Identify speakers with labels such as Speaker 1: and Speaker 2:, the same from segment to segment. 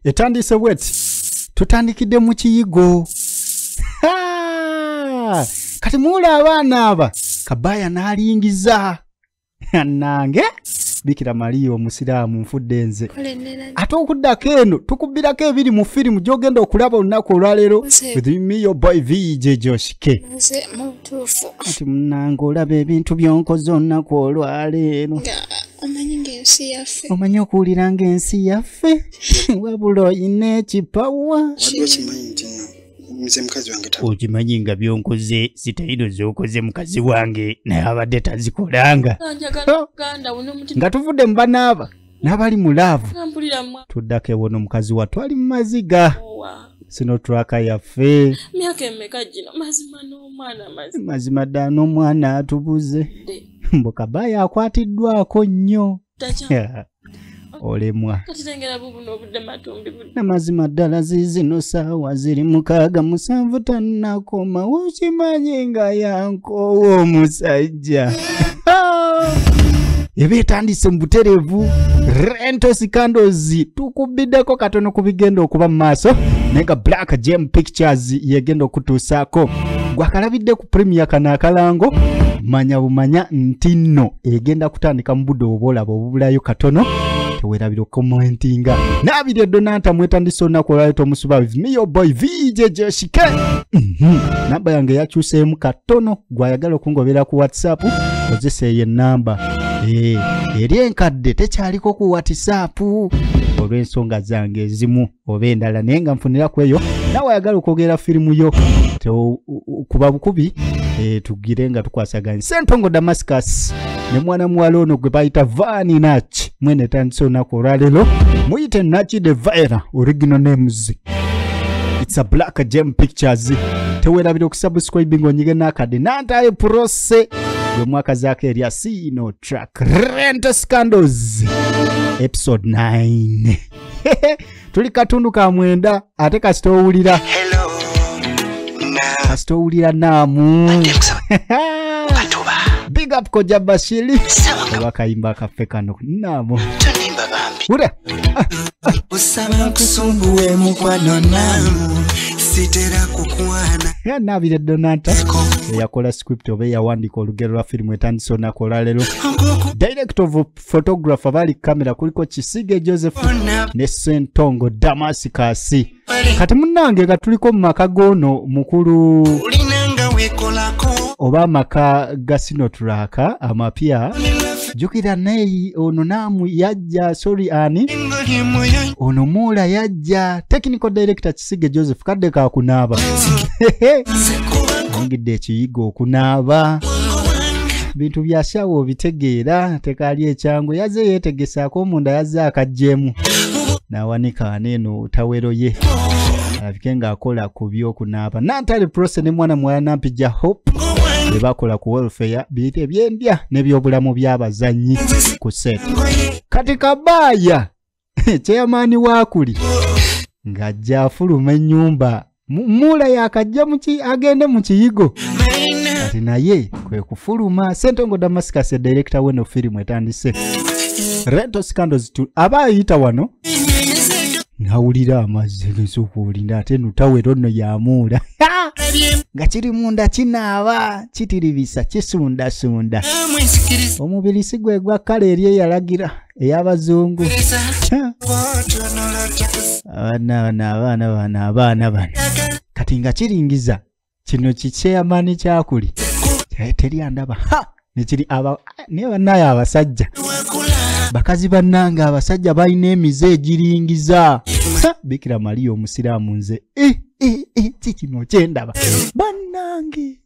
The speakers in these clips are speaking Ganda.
Speaker 1: etandiise bweti tutandikidde mu kiyigo kati muula abaana aba kabaaya n'alingiza nange bikira mariya omusiraamu nfudde nze ate okuddako eno tukubbirako ebiri mu firimu gy'ogenda okulaba olunaku olwaleero ati munange olaba ebintu byonkoze olunaku olwaleero omanyi ng'ensi yaffe omanyi okuwulira ng'ensi yaffe wabula oyina ekipawa okimanyi nga byonkoze sitayino zokoze mukazi wange naye abadde tazikolanga nga tuvudde mu banaaba n'abali mu laavu tuddako ewo n'omukazi wa twali mu maziga sino twaka yaffe mazima ddala n'omwana atubuze mbu kabaaya akwatiddwako nnyo olemwa namazima ddala zizino saawa ziri mukaaga musanvu tannakoma wokimanyi nga yankoowa omusajja eba etandise mu butereevu rentos candles tukubiddeko katono ku bigenda okuba mu maaso naye nga black gem pictures yegenda okutuusaako gwakalabidde ku premier kano akalango manya bumanya nti nno egenda kutandika mu budde obwolaba obubulayo katono tewerabira okukomentinga naabiri edonanta mwetandisa olunaku olwali tomusuba with me your boy vjjshike mhm. namba yange yakyuseemu katono gwayagala okungobera ku whatsapp kozesa eyo enamba eh, eri enkadde tekyaliko ku whatsapp olw'ensonga zange ezimu oba endala naye nga nfunira ku eyo nawe ayagala okwogera firimu yo kuba bukubi eh, tugire nga tukwasaganya sentongo damascus ne mwana muwala ono gwe bayita vani nach mwene etandise olunaku olwaleero muyite nachi de vira original names its a black jam pictures tewerabira okusubscribing onyige nakade nantaye prose yomwaka zako erya sino track rent scandals episode 9 tuli katundu ka mwenda ate kasita owulira kasita owulira naamu big up koja bashiri oba kayimba kaffe kano naamu ura osaba nkusumbuwe mukwano naamu sitera kukwana ya nabire donata eyakola script oba eyawandika olugero lwa firimu etandise onakola lero direct of photographer bali kamera kuliko kisige joseph ne sentongo damasi kasi kati munange nga tuliko mu maka goono mukulu oba amaka gasinotulaka amapya jukira neyi ono naamu yajja sori ani ono muula yajja technical director tusige joseph kadde kakunaaba ongidde ekiyiga okunaaba bintu byasyawo obitegeera tekaali ekyangu yazze yeetegesaako omunda yazze akajjeemu n'awanika ana eno tawero ye alabike ng'akola ku by'okunaaba nantale prose ne mwana muwala nampija hope bye bakola ku welfare biyita ebyendya n'ebyobulamu by'abazannyi ku set kati kabaaya kyeyamaani waakuli ng'ajja afuluma ennyumba muula yakajja agende mu kiyigo kati naye kwe kufuluma sentongo damascus edirekita weno firimu etandise rento scandos aba ayita wano nawulira amazzi gesukuulinda ate nutawero nno yamuula nga kiri munda kinaaba kitiribisa kisundasunda omubiri si gwe gwa kkala eri eyalagira ey'abazungu abaana bano abaana bano abaana bano kati nga kiringiza kino kikyeyamani kyakuli teri andaba nekiri naye banaye abasajja bakazi bannange abasajja balina emize egiringiza bikira maliya omusiraamu nze eh, eh, eh, kikino kyendaba bannange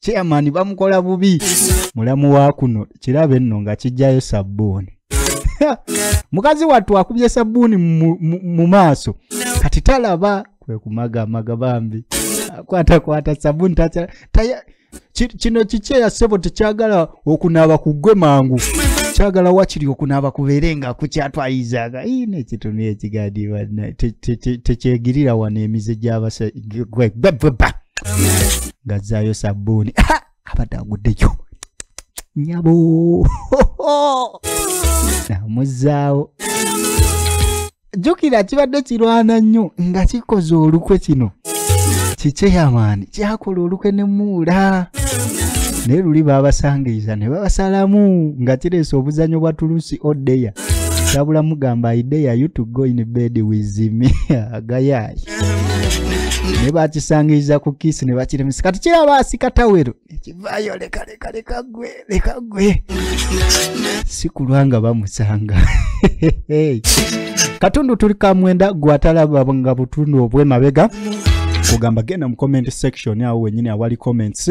Speaker 1: chairman bamukola bubi mulamu wa kuno kirabe nno nga kijjayo sabbuuni mukazi wattu akubye sabbuuni mu maaso kati talaba kwe kumagamaga bambi akwatakwata sabbuuni kino kiki eyasebo tekyagala okunaaba ku ggwe mangu kyagala wakiri okunaaba kubeere nga kukyatwayizaga ina ekitunu ekigadi tekyegirira wano emize gyabasa ngazzaayo sabbuuni abadde aguddeyo nyabo namuzzaawo jjukira kibadde kirwana nnyo nga kikoze olukwe kino kikyeyamaani kyakola olukwe ne muula naye luli baabasangiriza ne babasalamu nga kireese obuzanyo bwa tulusi odeya sabula mugamba idea you to go in bed with me agayayi ne bakisangiriza ku kisi ne bakiremesa kati kiraba asika tawero ekivaayo leka leka leka gwe leka gwe si kulwa nga bamusanga katundu tuli kamwenda gwatalaba nga butundu obwemabega kugamba genda mu comment section awo wenyini awali comments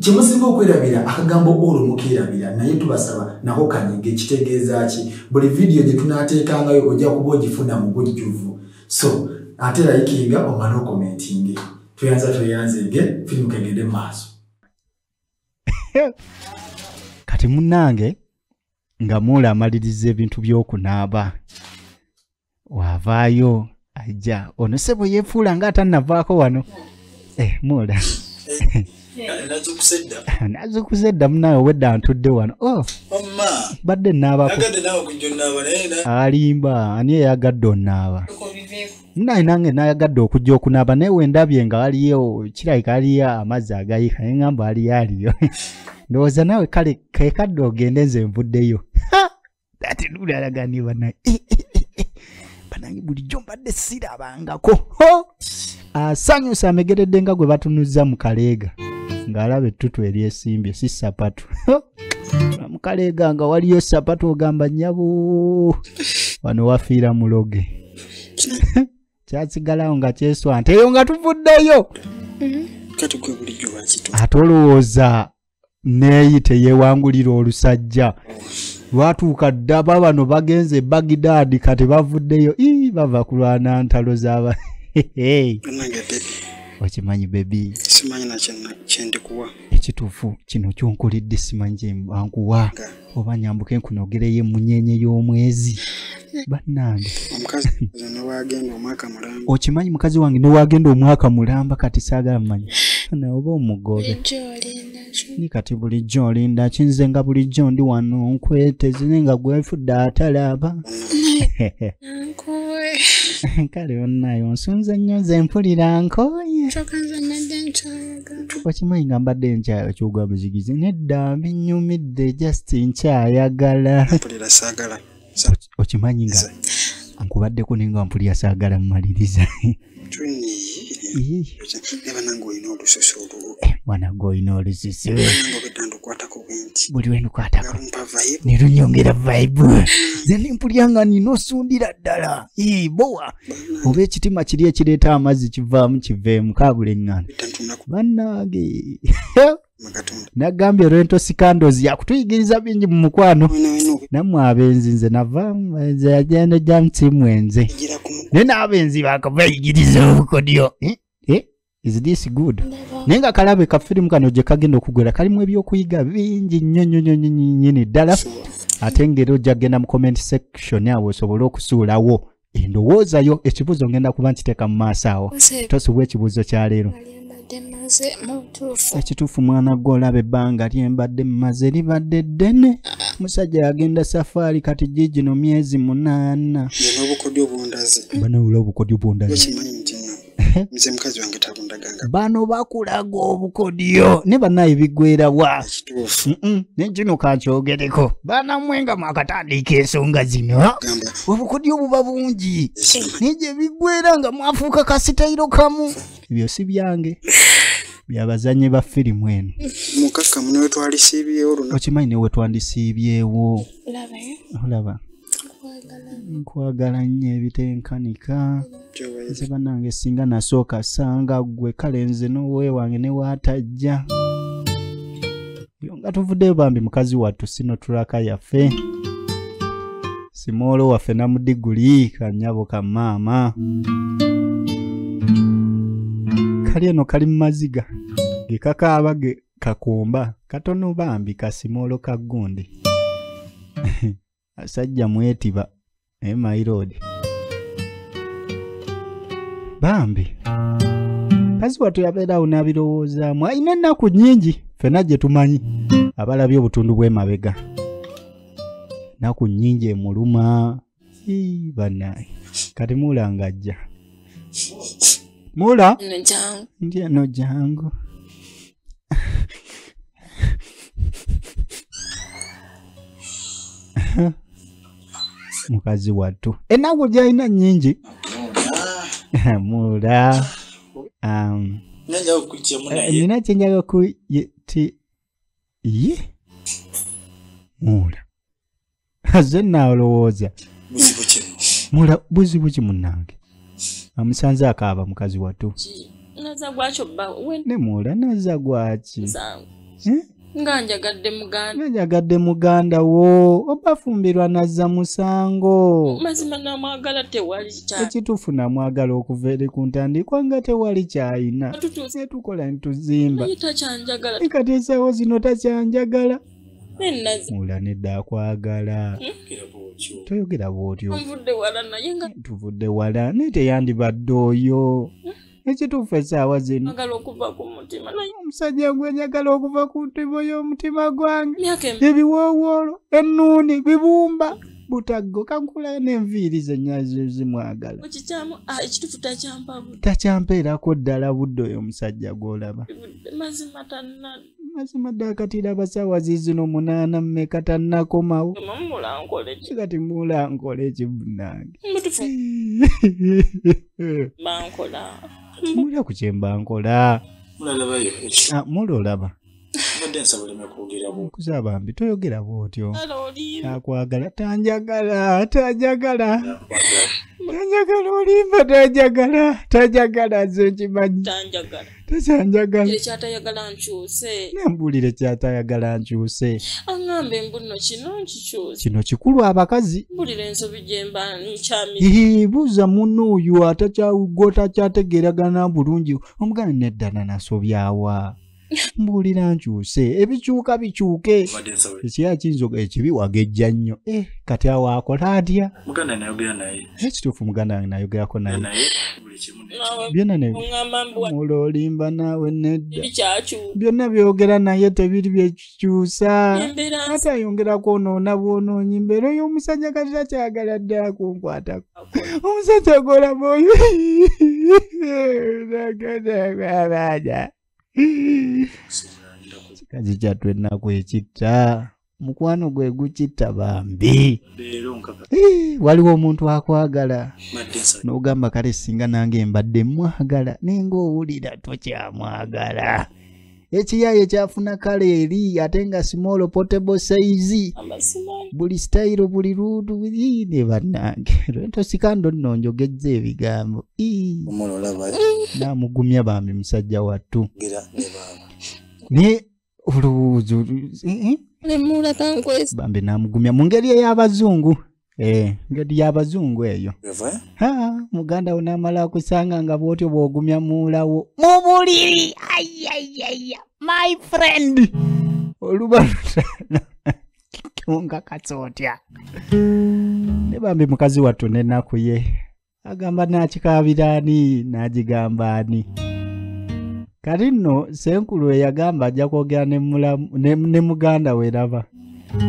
Speaker 2: kyemusinga okwerabira akagambo olwo mukeerabira naye tubasaba nako kanyige kitegeeza ki buli vidiyo gye tunaateekangayo ojja kuba ogifuna mu bujjuvu so ate layikinga omale okomentinge tweyanza tweyanzege firimu kegende mu maaso
Speaker 1: kati munnange nga muula amaliriza ebintu by'okunaaba wavaayo ajja ono sebo yefuula nga atannavaako wano eh, muula nazukuza edda munawe obwedda ntudde wano oh. badde naabako alimba ani eyagadde onaaba naye nange nayagadde okujja okunaaba naye wendabye nga waliyo kirabika aliyo amazzi agayika naye ngamba aliyo aliyo ndowooza nawe kale kekadde ogende nze nvuddeyo ate luli alaganie banaye eh, eh, eh, banange bulijjo mbadde sirabangako asanyusa amegeredde nga gwe batunuzza mu kaleega ng'alaba ettutu eryesimbye si sapatu mukaleega nga waliyo sapatu ogamba nyabo wano wafiira muloge kyasigalawo nga kyeswante eyo nga tuvuddeyo mm-hmm. ate olowooza neeyi teyeewangulira olusajja lwatuuka ddaba bano bagenze bagidaadi kati bavuddeyo ii bava kulwana ntalo zaba okimanyi bebi
Speaker 3: ekituufu
Speaker 1: kino kyonkulidde simanyi kyenkuwa oba nyambuke nkunogereyo emunyenye y'omwezi bannange okimanyi mukazi wange newagenda omwaka mulamba kati saagala mumanyi funa oba omugobe ni kati bulijjo olinda kinze nga bulijjo ndi wano nkwetezire nga gwefudde atalaba kale onayo nsunze nnyo nze mpulira nkoye wakimanyi nga mbadde nkyaya kyoga muzigize nedda binyumidde just nkyayagala okimanyi nga nkubaddeko naye nga mpulira saagala mumaliriza mwanage olina olususu buli wendukwatako nerunyongera vibe zenimpulira nga nina osundira ddala bowa oba ekitima kiri ekireeta amazzi kivaamu kiveemu kaabula eŋŋano bannange nagambye rento sikandozi yakutuyigiriza bingi mu mukwano nammwe abenzi nze navaamu nze yagenda jamusimu enze naye n'abenzi bakavayigiriza obukodyo eh? is this good naye nga kalabe ka firimu kano gye kagenda okugwera kalimu ebyokuyiga bingi nnyo nnyo nnyo nyini ddala ate ngaera ojja kugenda mu comment section awo osobole okusuulawo endowooza yo ekibuuzo ngenda kuba nkiteeka mu maaso awo tosubwa ekibuuzo kya leero ekituufu mwana gwe olaba ebbanga lyembadde mumaze libadde ddene musajja yagenda safaari kati giigino myezi munaana bano obukodyo bwondazi nze mukazi wange talundaganga bano bakulaga obukodyo ne banaye bigwerawa nekino kakyogereko banamwe nga mwakatandiika ensonga zino obukodyo buba bungi naye gye bigwera nga mwafuuka kasitayiro kamu ebyo si byange byabazanye ba firimu eno mukakkamu newetwalisiibyewo okimanyi
Speaker 3: newetwandisiibyewo olaba
Speaker 1: nkwagala nnyo ebitenkanika nze banange singa nasooka sanga gwe kale nze nowewange newatajja nga tuvuddeyo bambi mukazi wattu sino tulaka yaffe simoolo waffe namudiguli kanyabo ka maama kali eno kali mu maziga gekakaaba ge kakumba katono bambi kasimoolo ka gundi asajja mwetiba naye my road bambi kazi watu yabeerawo n'abirowoozaamu alina ennaku nnyingi ffena gye tumanyi abalabye obutundu bw'emabega naku nnyingi emuluma banaye kati muula ng'ajja muula nti eno jangu mukazi wattu ennaku gyalina nyingi mula um, eh, nina kyenjaga ku ti ye mula aze naalowooza buzibu ki munange amusanze akaaba mukazi watu ne muula naza gwaki eh? nga njagadde muganda nga njagadde muganda wo obafumbirwa nazza musango mazima namwagala
Speaker 4: tewali ekituufu namwagala
Speaker 1: okuva eri ku ntandikwa nga tewali kyayina netukola nituzimba kati esawo zino takyanjagala mula nedda akwagala hmm? toyogera bwotyo tuvudde wala naye teyandibadde oyo hmm? ekituufu esaawa zino omusajja gwe njagala okuva ku ntimo y'omutima gwange ebiwoowoolo ennuuni bibumba butaggo kankulayo n'enviiri zenyazo zimwagala ah, takyampeerako ddala budde oyo omusajja gw'olaba mazima ddala kati iraba saawa ziizino munaana mmeka tannakomawo kati muula nkola ekibunange muula ku kyemba nkola ah, muula olaba kuza bambi toyogera bwotyo akwagala tanjagala tanjagala tanjagala olimba tanjagala tanjagala nze nkimanyi tekyanjagala ekyatayagala
Speaker 4: nkyuse nembuulire kyatayagala
Speaker 1: nkyuse aŋŋamba embunno
Speaker 4: kino nkikyuse kino
Speaker 1: kikulu abakazi mbulira ensobi gyemba
Speaker 4: nkyamii buuza munno
Speaker 1: oyo atakyagwotakyategeeragana bulungi omugana neddana nasobyawa mbuulira nkyuse ebikyuka bikyuke ekyakinzoga ekibi wagejja nnyo eh, kati awo akola atya
Speaker 3: ekituufu muganda nge
Speaker 1: nayogerako naye nawe byonna ne ŋŋamba mbu wa- mula olimba naawe nedda bikyakyuka byonna byogera naye tebiri byekikyusa embeera ate ayongera kwonoona bwonoonyi mbeera oyo omusajja kati takyagala ddala kunkwatako omusajja golamoyo kikazi kyattu ennaku ekitta mukwano gwe gukitta bambi waliwo omuntu akwagala n'ogamba kale singa nange mbadde mwagala naye ngaowulira tokyamwagala ekiyaye kyafuna kale eri ate nga small potable size buli stayiro buli luudu ne bannange lwento sikando nno njogezza ebigambo namugumya bambi musajja wattu naye olowooza eh, eh? bambi namugumya mu ngeri ey'abazungu eh, ngeri y'abazungu eyo muganda wo namala akusanga nga bwotyo bwogumya muulawo mu buliri ayayaya my friend olubalutana ongakatsa otya ne bambi mukazi wattu nenaku ye agamba nakikaabira ani n'agigamba ani kati nno senkulu eyagamba ajja kwogera ne muganda we raba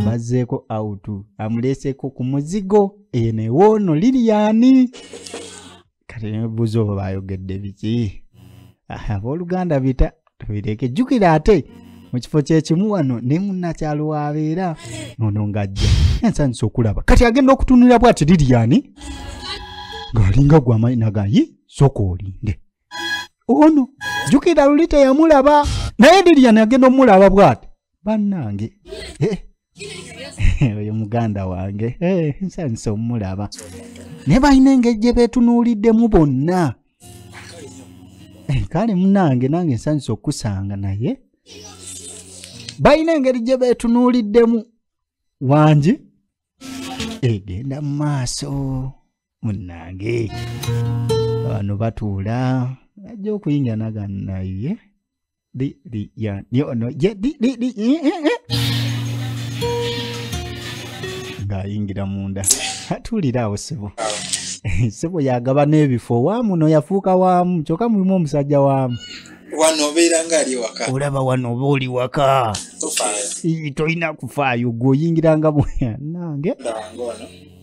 Speaker 1: bazzeeko awutu amuleeseeko ku muzigo eyo newoono liriyani kati nebuuza oba bayogedde biki abooluganda bita tubireke jjukira ate mu kifo kyekimu wano ne munnakyalo wabeera ono ng'ajja ensanyusa okulaba kati agenda okutunulira bwati liriyani ng'alinga gwamanyi nagayi soka olinde ono jjukira luli teyamulaba naye liriyani agenda omulaba bwati bannange eh. oyo muganda wange eh, nsanyusa omulaba naye balina engeri gye beetunuuliddemu bonna eh, kale munange nange nsanyusa okukusanga naye balina engeri gye beetunuuliddemu wangi egenda mu maaso munange bano batuula ajja okuyingira naga naye Di, di, ya, ni, ono, ye, di, di, di, i, i, i. ng'ayingira munda atuulira awo sebo sebo yagaba n'ebifo waamu no yafuuka waamu kyokka mulimu omusajja waamu wano obeera
Speaker 3: ng'ali waka olaba wano oba oli
Speaker 1: waka tolina kufaayo gwe oyingiranga bweyanange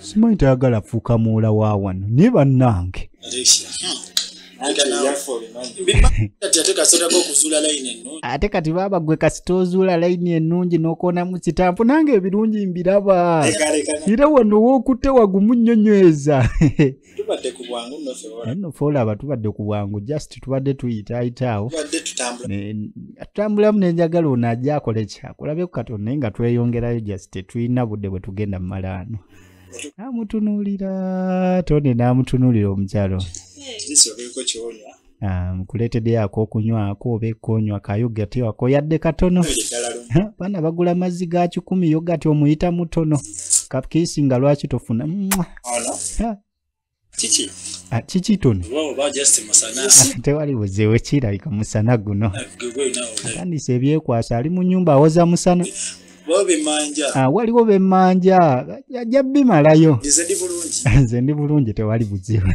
Speaker 1: simanyi tayagala fuuka muwola wa wano naye bannange ate kati baaba gwe kasita ozuula layini ennungi n'okoonamu kitampu nange ebirungi mbiraba era wano wookutte wagumu nnyonyweza tubadde ku bwangu nno fe olaba tubadde ku bwangu just tubadde tuyitaayitaawo tutambulamu nenjagala ono ajja akole ki akulabeku katonda naye nga tweyongerayo just tetulina budde bwe tugenda mu malaano namutunuulira tone namutunuulira omukyalo Ah, nkuleeteddeyo ak'okunywako oba ekonywa ka yogati wako yadde katono baana bagula amazzi ga kikumi yogati omuyita mutono kakiisi nga lwaki tofuna kiki tuni tewali buzeewe kirabika musana guno atandisa ebyekwasa ali mu nyumba awoza musana ah, waliwo bemanja ajja bimalayo nze ndi bulungi tewali buzeewe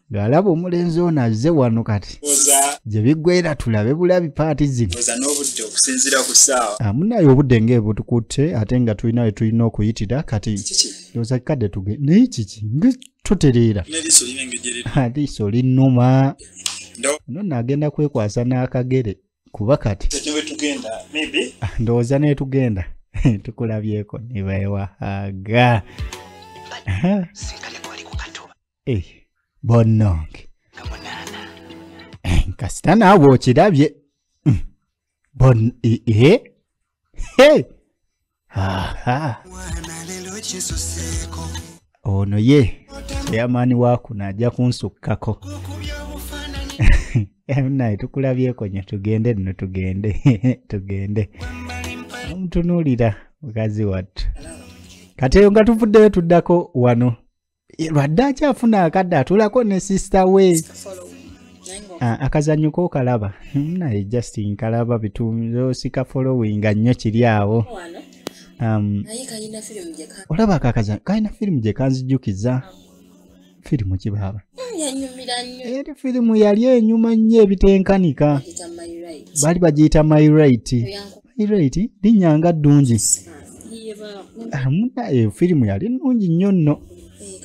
Speaker 1: ng'alaba omulenzi ono azze wano kati gye biggweera tulabe bulabi paati zino amunaye ah, obudde ng'ebutukutte ate nga tulina we tulina okuyitira kati oza kikadde tuge naye kiki nga tutereera aliiso linnuma no naagenda kwekwasa n'akagere kuba kati ndowooza netugenda tukulabyeko nebaewahaga eh, bonnange eh, kasita naawe okirabye mm, bon ee eh, ono ye chairman wakuno ajja kunsukkako naye tukulabyeko nyo tugende no tugende tugende omutunuulira mukazi wattu kati eyo nga tuvuddeyo tuddako wano lwadde akyafuna akadde atulako ne sister we ah, akazanyo kokalaba hmm, naye just nkalaba bitusika following nnyo kiri awo um, olaba akakazanyo kalina firimu gye kanzijukiza firimu kibaaba hmm, eri firimu yali enyuma nnyo ebitenkanika bali bagiyita my right pirate linnya nga ddungi ah, munaye eh, firimu yali nnungi nnyo nno eh,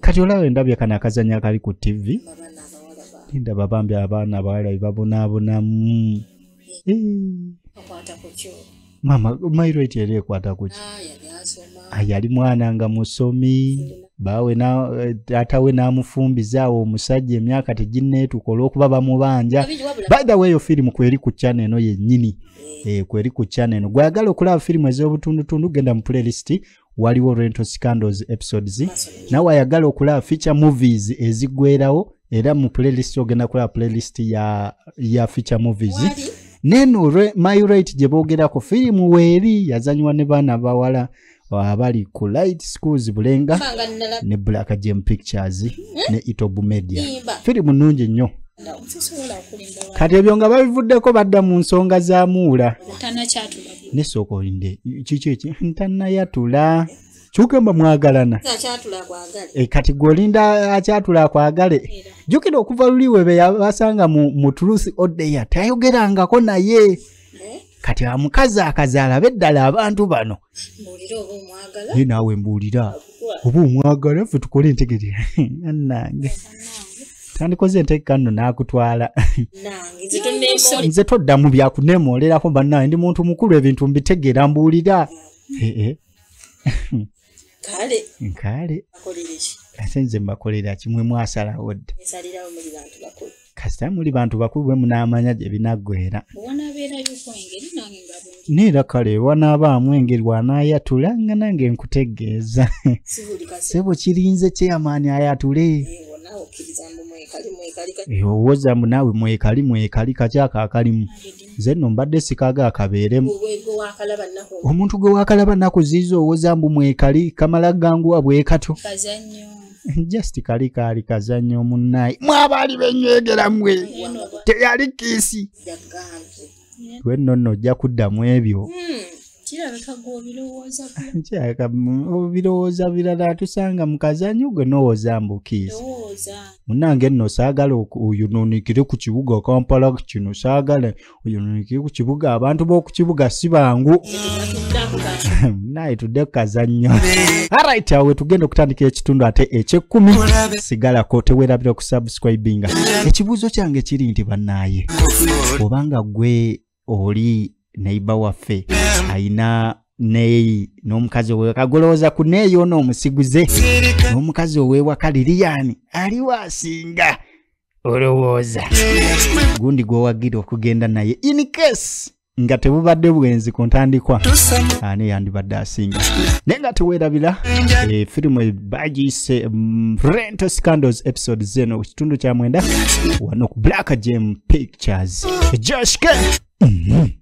Speaker 1: kati olaba endabya kano akazannya akali ku tv ndaba bambi abaana abawala bebabonaabonamu eh. maama mairate era ekwata kuki ah, Ah, yali mwana nga musomi bawe eh, taata we n'amufumbiza awo omusajja emyaka teginneetuka olw'okuba bamubanja by the way yo firimu kweri ku chana eno yennyini eh. Eh, kweri ku chana eno gweyagala okulaba firimu ez'obutundutundu genda mu playlist waliwo rental scandals episodes nawe ayagala okulaba feature movies ezigwerawo era mu playlist ogenda kulaba playlist ya, ya feature movies Wali? neno myrate gye boogerako firimu weeri yazanywa ne baana bawala abali ku light schools bulenga ne black gem pictures hmm? ne itobu media firimu nnungi nnyo kati ebyo nga babivuddeko badda mu nsonga za muula nesooka olinde kiki eki ntanayatula kyogamba mwagalana
Speaker 4: eh, kati gweolinda
Speaker 1: akyatula akwagale jukira okuva luli webe yabasanga mu truth odeya tayogerangako naye eh? kati amukazi akazaala beddala abantu bano
Speaker 4: ye naawe mbuulira
Speaker 1: oba omwagala ffe tukole entegere anange tandikoze entegeka nno naakutwala nze toddamu byakunemooleraho bannaye ndi muntu mukulu ebintu mbitegeera mbuulira ee eh, kale kale ate nze mbakolera kimwe mwasalawo dda kasita muli bantu bakulu bwe munaamanya gye binaggwera neera kale wanaabaamu engeri wanaayatula nga nange nkutegeeza sebo kirinze kyeyamaani ayatule owoza mbu naawe mwekali mwekali kakyako akalimu nze nno mbadde sikaaga akabeeremu omuntu gwe wakalaba naku ziiza owoza mbu mwekali kamala ganguwa bwekatyo just kali kaali kazanyo omunnaye mwabaali benywegera mwe teyali kiisi lwenno nno ojja kuddamu ebyo hmm. kirabika gwe obirowooza nkyaka obirowooza birala atusanga mu kazanyo gwe nowooza mbukiizi munange nno saagala oyonoonekere ku kibuga kampala kino saagala oyonoonekere ku kibuga abantu b'oku kibuga si bangu naye tudde ku kazannyo arit awo wetugenda okutandika ekitundu ate ekyekkumi sigalako tewerabira okusubscribinga ekibuuzo kyange kiri nti bannaaye obanga gwe oli neiba waffe ayina neyi n'omukazi owewaka golowooza ku neeyi ono omusiguze n'omukazi owewaka liriyani aliwo asinga olowooza gundi gwowagira okugenda naye in case nga tebubadde bwenzi ku ntandikwa ani yandibadde asinga naye nga tewerabira efirimu eh, bagiyise mm, rental scandals episode zeno ku kitundu kya mwenda wano ku black gem pictures joshke mm -hmm.